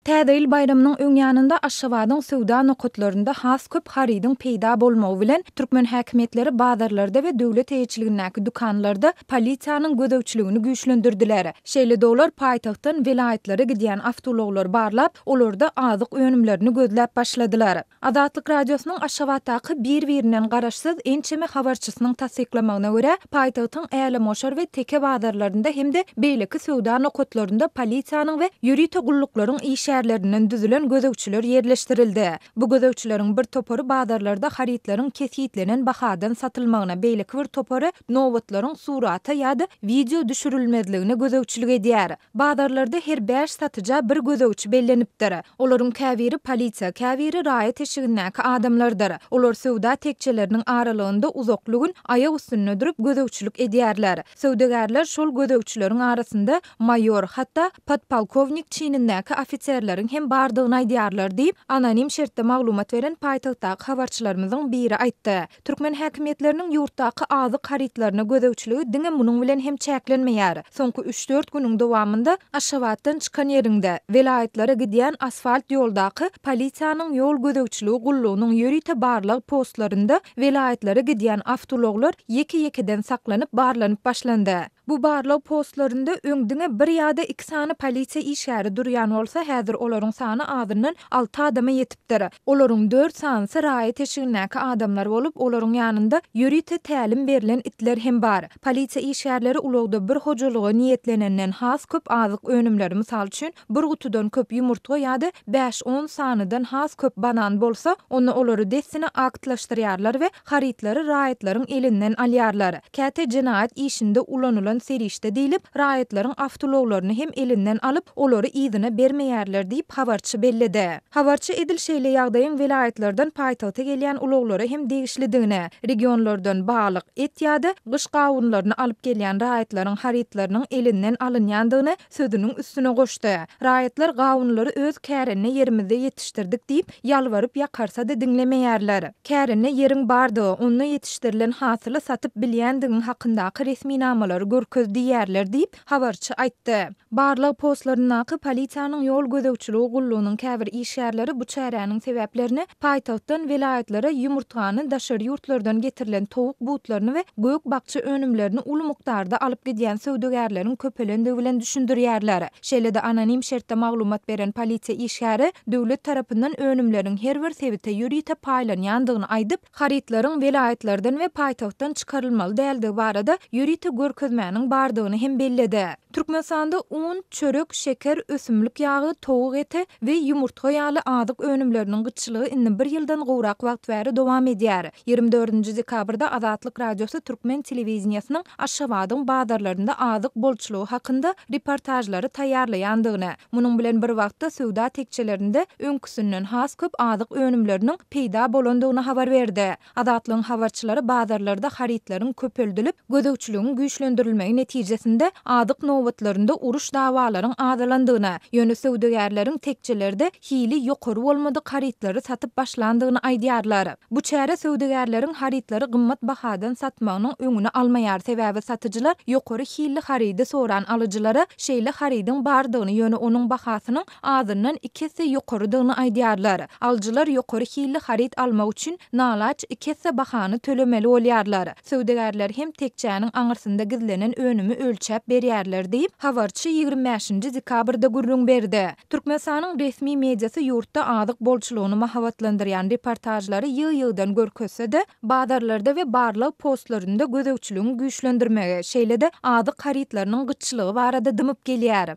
Täze ýyl baýramynyň öň ýanynda Aşgabadyň söwda nokatlarynda has köp harydyň peýda bolmagy bilen, türkmen häkimiýetleri bazarlarda we döwlet eýeçiligindäki dükanlarda polisiýanyň gözegçiligini güýçlendirdiler. Şeýle de olar paýtagtdan welaýatlara gidýän awtoulaglary barlap, olarda azyk önümlerini gözläp başladylar. Azatlyk Radiosynyň Aşgabatdaky bir-birinden garaşsyz ençeme habarçysynyň tassyklamagyna görä, paýtagtyň Älemgoşar we Teke bazarlarynda hem-de beýleki söwda nokatlarynda polisiýanyň we ýörite gulluklaryň işgärlerinden düzülen gözegçiler ýerleşdirildi. Bu gözegçileriň bir topary bazarlarda harytlaryň kesgitlenen bahadan satylmagyna, beýleki bir topary nobatlaryň surata ýa-da wideo düşürilmezligine gözegçilik edýär. Bazarlarda her bäş satyja bir gözegçi bellenipdir. Olaryň käbiri polisiýa, käbiri raýat eşigindäki adamlardyr. Olar söwda tekjeleriniň aralygynda uzakly gün aýak üstünde durup gözegçilik edýärler. Söwdagärler şol gözegçileriň arasynda maýor, hatda podpolkownik çinindäki ofiserleriň hem bardygyny aýdýarlar diýip, anonim şertde maglumat beren paýtagtdaky habarçylarymyzyň biri aýtdy. Türkmen häkimiýetleriniň ýurtdaky azyk harytlaryna gözegçiligi diňe munuň bilen hem çäklenmeýär. Soňky üç-dört günüň dowamynda Aşgabatdan çykan ýeriňde, welaýatlara gidýän asfalt ýoldaky polisiýanyň ýol gözegçiligi gullugynyň ýörite barlag postlarynda welaýatlara gidýän awtoulaglar ýeke-ýekeden saklanyp barlanyp başlandy. Bu barlag postlarynda öň diňe bir ýa-da iki sany polisiýa işgäri durýan bolsa, häzir olaryň sany azyndan alty adama ýetipdir. Olaryň dört sanysy raýat eşigindäki adamlar bolup, olaryň ýanynda ýörite tälim berlen itler hem bar. Polisiýa işgärleri ulagda bir hojalyga niýetlenenden has köp azyk önümleri, mysal üçin, bir gutudan köp ýumurtga ýa-da bäş-on sanydan has köp banan bolsa, onda olary dessine aktlaşdyrýarlar we Harytlary raýatlaryň elinden alýarlar. Käte jenaýat işinde ulanylan serişde diýlip, raýatlaryň awtoulaglaryny hem elinden alyp, olary yzyna bermeýärler diýip, habarçy belledi. Habarçy edil şeýle ýagdaýyň welaýatlardan paýtagta gelýän ulaglara hem degişlidigini, regionlardan balyk, et ýa-da gyş gawunlaryny alyp gelýän raýatlaryň harytlarynyň elinden alynýandygyny Sözüniň üstüne goşdy. Raýatlar gawunlary öz kärende ýerimizde ýetişdirdik diýip, ýalbaryp-ýakarsa-da diňlemeýärler. Kärende ýeriň bardygy, onda ýetişdirilen hasyly satyp bilýändigiň hakyndaky resminamalary görkez diýýärler diýip, habarçy aýtdy. Barlag postlaryndaky polisiýanyň ýol gözegçiligi gullugynyň käbir işgärleri bu çäräniň sebäplerini Paýtagtdan welaýatlara ýumurtgany, daşary ýurtlardan getirilen towuk butlaryny we gök-bakja önümlerini uly mukdarda alyp gidýän söwdagärleriň köpelendigi bilen düşündirýärler. Şeýle-de anonim şertde maglumat beren polisiýa işgäri döwlet tarapyndan önümleriň her bir sebite ýörite paýlanýandygyny aýdyp, harytlaryň welaýatlardan we paýtagtdan çykarylmaly däldigi barada ýörite görkezmäniň bardygyny hem belledi. Türkmenistanda un, çörek, şeker, ösümlik ýagy, towuk eti we ýumurtga ýaly azyk önümleriniň gytçylygy indi bir ýyldan gowrak wagt bäri dowam edýär. Ýigrimi dördünji dekabrda Azatlyk Radiosy türkmen telewideniýesiniň Aşgabadyň bazarlarynda azyk bolçulygy hakynda reportažlary taýýarlaýandygyny, munuň bilen bir wagtda söwda tekjelerinde öňküsinden has köp azyk önümleriniň peýda bolandygyny habar berdi. Azatlygyň habarçylary bazarlarda harytlaryň köpeldilip, gözegçiligiň güýçlendirilmegi netijesinde azyk nobatlarynda uruş-dawalaryň azalandygyny, ýöne söwdagärleriň tekjelerde hili ýokary bolmadyk harytlary satyp başlandygyny aýdýarlar. Bu çäre söwdagärleriň harytlary gymmat bahadan satmagynyň öňüni almaýar, sebäbi satyjylar ýokary hilli harydy soran alyjylara şeýle harydyň bardygyny, ýöne onuň bahasynyň azyndan iki esse ýokarydygyny aýdýarlar. Alyjylar ýokary hilli haryt almak üçin nalaç iki esse bahany tölemeli bolýarlar. Söwdagärler hem tekjäniň aňyrsynda gizlenen önümi ölçäp berýärler diýip, habarçy ýigrimi bäşinji dekabrda gürrüň berdi. Türkmenistanyň resmi mediasy ýurtda azyk bolçulygyny mahabatlandyrýan reportažlary ýygy-ýygydan görkezse-de, bazarlarda we barlag postlarynda gözegçiligiň güýçlendirmegi, şeýle-de azyk harytlarynyň gytçylygy barada dymyp gelýär.